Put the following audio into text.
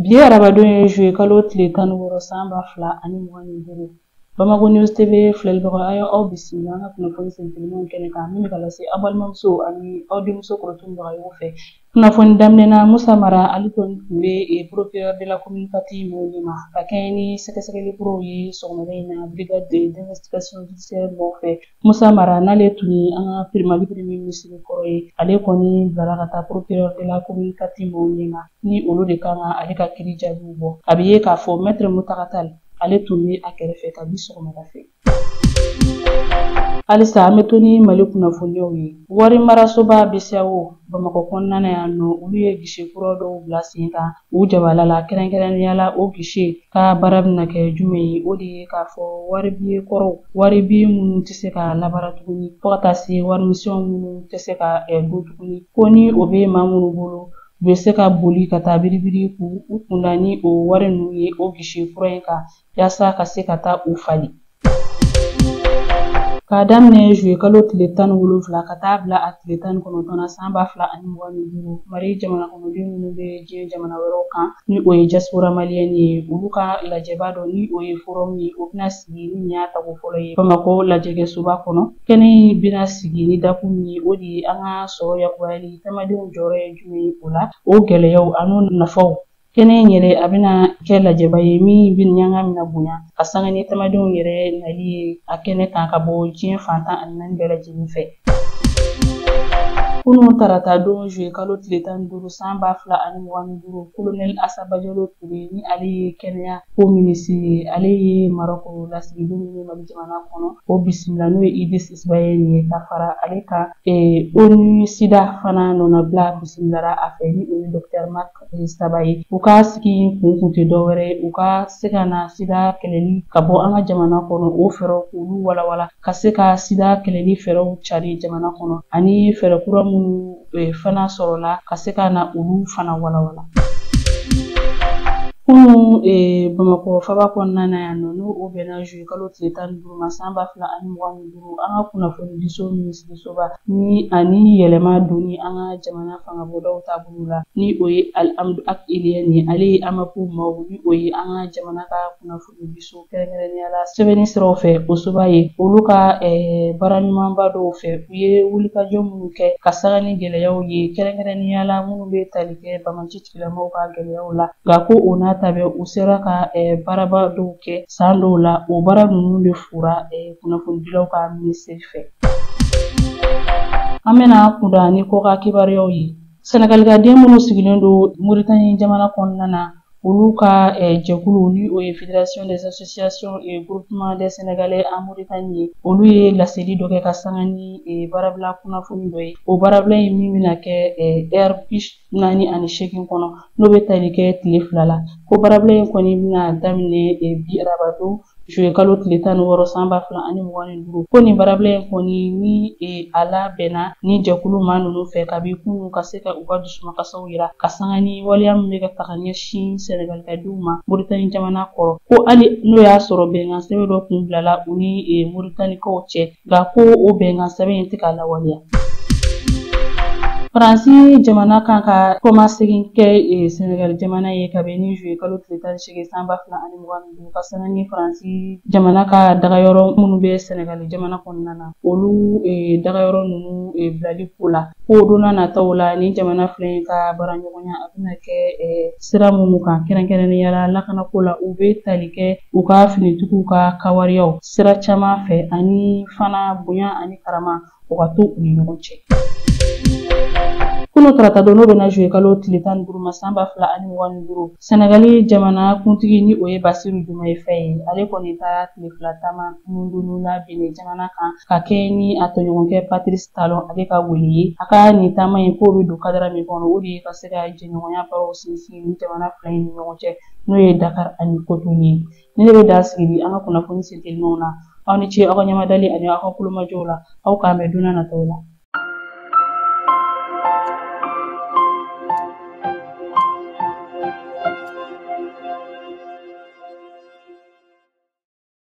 Bi ye arabadon ye zuye kalo tile tan ni wɔɔrɔ san ba fila ani mugan ni duuru Bamako News TV filɛlibaga a y'aw bisimila an ka kunnafoni sentelima kɛnɛ kan min bɛ ka lase aw balimamuso ani aw denmuso Kɔrɔtumu Bagayogo fɛ kunnafoni daminɛ na Musa Mara ale kɔni tun bɛ eh, procureur de la commune quatre mɔgɔw ɲɛma ka kɛɲɛ ni sɛgɛsɛgɛli kuraw ye sɔgɔmada in na brigade d'investigation judiciaire mɔgɔw fɛ Musa Mara n'ale tun ye an ka peri Mali premier minisiri kɔrɔ ye ale kɔni bilara ka taa procureur de la commune quatre mɔgɔw ɲɛ ma ni olu de kan ka ale ka kiri jaabiw bɔ a bɛ ye k'a fɔ maitre Muntaga Tal ale tun bɛ a kɛrɛfɛ kabi sɔgɔmada fɛ halisa an bɛ to ni mali kunnafoniyaw ye wari marasoba BCEAO bamakɔ kɔnɔna na yan nɔ olu ye gise kura dɔw bila sen kan u jabala la kɛrɛnkɛrɛnnenya la o gise ka baara bɛna kɛ jumɛn ye o de ye k'a fɔ wari biye kɔrɔw wari biye minnu tɛ se ka labaara tuguni fo ka taa se wari misɛnw minnu tɛ se ka don tuguni ko ni o bɛ maa minnu bolo u bɛ se ka boli ka taa biribiri k'u kunda ni o wari ninnu ye o gise kura in kan yaasa ka se ka taa u falen k'a daminɛ zuye kalo tile tan ni wolonfila ka taa bila a tile tan ni kɔnɔntɔn na san ba fila ani mugan ni duuru mali jamana kɔnɔden minnu bɛ diɲɛ jamana wɛrɛw kan ni o ye diaspora maliyɛn ye olu ka lajɛba dɔ ni o ye forum ye o bɛna sigi ni nin y'a tako fɔlɔ ye bamakɔ lajɛkɛsoba kɔnɔ kɛnɛ in bɛna sigi ni dakun min ye o de ye an ka sɔrɔ yakubayali tamadenw jɔyɔrɔ ye jumɛn ye o la o gɛlɛyaw an'o nafaw Kɛnɛ in yɛrɛ a bɛna kɛ lajɛba ye min bɛ ɲanga mina bonya ka sanga ni tamadenw yɛrɛ nali ye a kɛnɛ kan ka bɔ diɲɛ fan tan ani naani bɛɛ lajɛlen fɛ. Kunun tarata don juye kalo tile tan ni duuru san ba fila ani mugan ni duuru kolonɛl Asa Bajalo Ture ni ale ye kɛnɛya ko minisiri ye ale ye marɔko lasigiden ye mali jamana kɔnɔ o bisimila n'o ye Idris Isibayɛni ye ka fara ale kan ONU SIDA fana nɔnabila bisimilara a fɛ ni o ye dɔktɛr mark e, Saba ye u ka sigi kun kun tɛ dɔwɛrɛ ye u ka se ka na sida kɛlɛli ka bɔ an ka jamana kɔnɔ o fɛɛrɛw k'olu walawala ka se ka sida kɛlɛli fɛɛrɛw cari jamana kɔnɔ ani fɛɛrɛ kura minnu e, fana sɔrɔla ka se ka na olu fana walawala Kunu e, bamakɔ faaba kɔnɔna na yan nɔ n'o o bɛnna zuye kalo tile tan ni duuru ma san ba fila ani mugan ni an ka kunnafoni diso minisirisoba ni ani yɛlɛma donni an ka jamana fangabɔdaw taabolo la ni o ye Alihamdu Ag Iliyɛn ye ale ye AMAP maaw ni o ye an ka jamana ka kunnafoni diso kɛrɛnkɛrɛnnenya la sɛbɛnni siraw fɛ o soba ye olu ka eh, baara ɲumanba dɔw fɛ u ye wulikajɔ minnu kɛ ka sanga ni gɛlɛyaw ye kɛrɛnkɛrɛnnenya la minnu bɛ tali kɛ bamaci lamɔw ka gɛlɛyaw la nka ko o n'a ta bɛɛ u sera ka baaraba dɔw kɛ san dɔw la o baara ninnu de fɔra kunnafonidilaw ka minisiri fɛ an bɛna kunda ni kɔkan kibaruyaw ye sɛnɛgalikaden minnu sigilen don moritani jamana kɔnɔna na olu ka jɛkulu ni o ye federation des associations et groupement des sénégalais en Mauritanie ye olu ye laseli dɔ kɛ ka sanga ni baarabila kunnafoni dɔ ye o baarabila in min bɛna kɛ heure naani ani seegin kɔnɔ n'o bɛ tali kɛ tile fila la ko baarabila in kɔni bɛna daminɛ e, bi arabadon juye kalo tile tan ni wɔɔrɔ san ba fila ani mugan ni duuru ko nin baarabila in kɔni ni e, a labɛnna ni jɛkulu maa ninnu fɛ kabi kunun ka se ka u ka dusumakasiw yira ka sanga ni waleya min bɛ ka taga ɲɛsin sɛnɛgalikadenw ma moritani jamana kɔnɔ ko hali n'o y'a sɔrɔ bɛnkan sɛbɛn dɔ tun bilala u ni e, moritanikaw cɛ Nka ko o bɛnkan sɛbɛn in tɛ ka lawaleya. Faransi jamana kan ka kɔmasegin kɛ e, Senegal jamana ye ka bɛn ni juye kalo tile tan ni seegin san ba fila ani mugan ni duuru ka sanga ni Faransi jamana ka dagayɔrɔ minnu bɛ Senegal jamana kɔnɔna na olu e, dagayɔrɔ ninnu e, bilali ko la ko donna nataw la nin jamana fila in ka baaraɲɔgɔnya a bɛna kɛ sira minnu kan kɛrɛnkɛrɛnnenya la lakanako la u bɛ tali kɛ u ka finitigiw ka kawariyaw sira caman fɛ ani fana bonya ani karama o ka to u ni ɲɔgɔn cɛ kunun tarata don n'o bɛnna juye kalo tile tan ni duuru ma san ba fila ani mugan ni duuru sɛnɛgali jamana kuntigi ni o ye basiru jumaye faye ye ale kɔni taara tile fila taama nundunu la benin jamana kan ka kɛɲɛ ni a tɔɲɔgɔnkɛ patirisi talon ale ka wele ye a ka nin taama in k'o bɛ don kadara min kɔnɔ o de ye ka se ka jɛɲɔgɔnya baaraw sinsin nin jamana fila in ni ɲɔgɔn cɛ n'o ye dakar ani kotonu ye Nin de bɛ dan sigi bi an ka kunnafoni sentelenw na aw ni ce aw ka ɲɛmadali ani aw ka tulomajɔw la aw k'an bɛn donna nataw la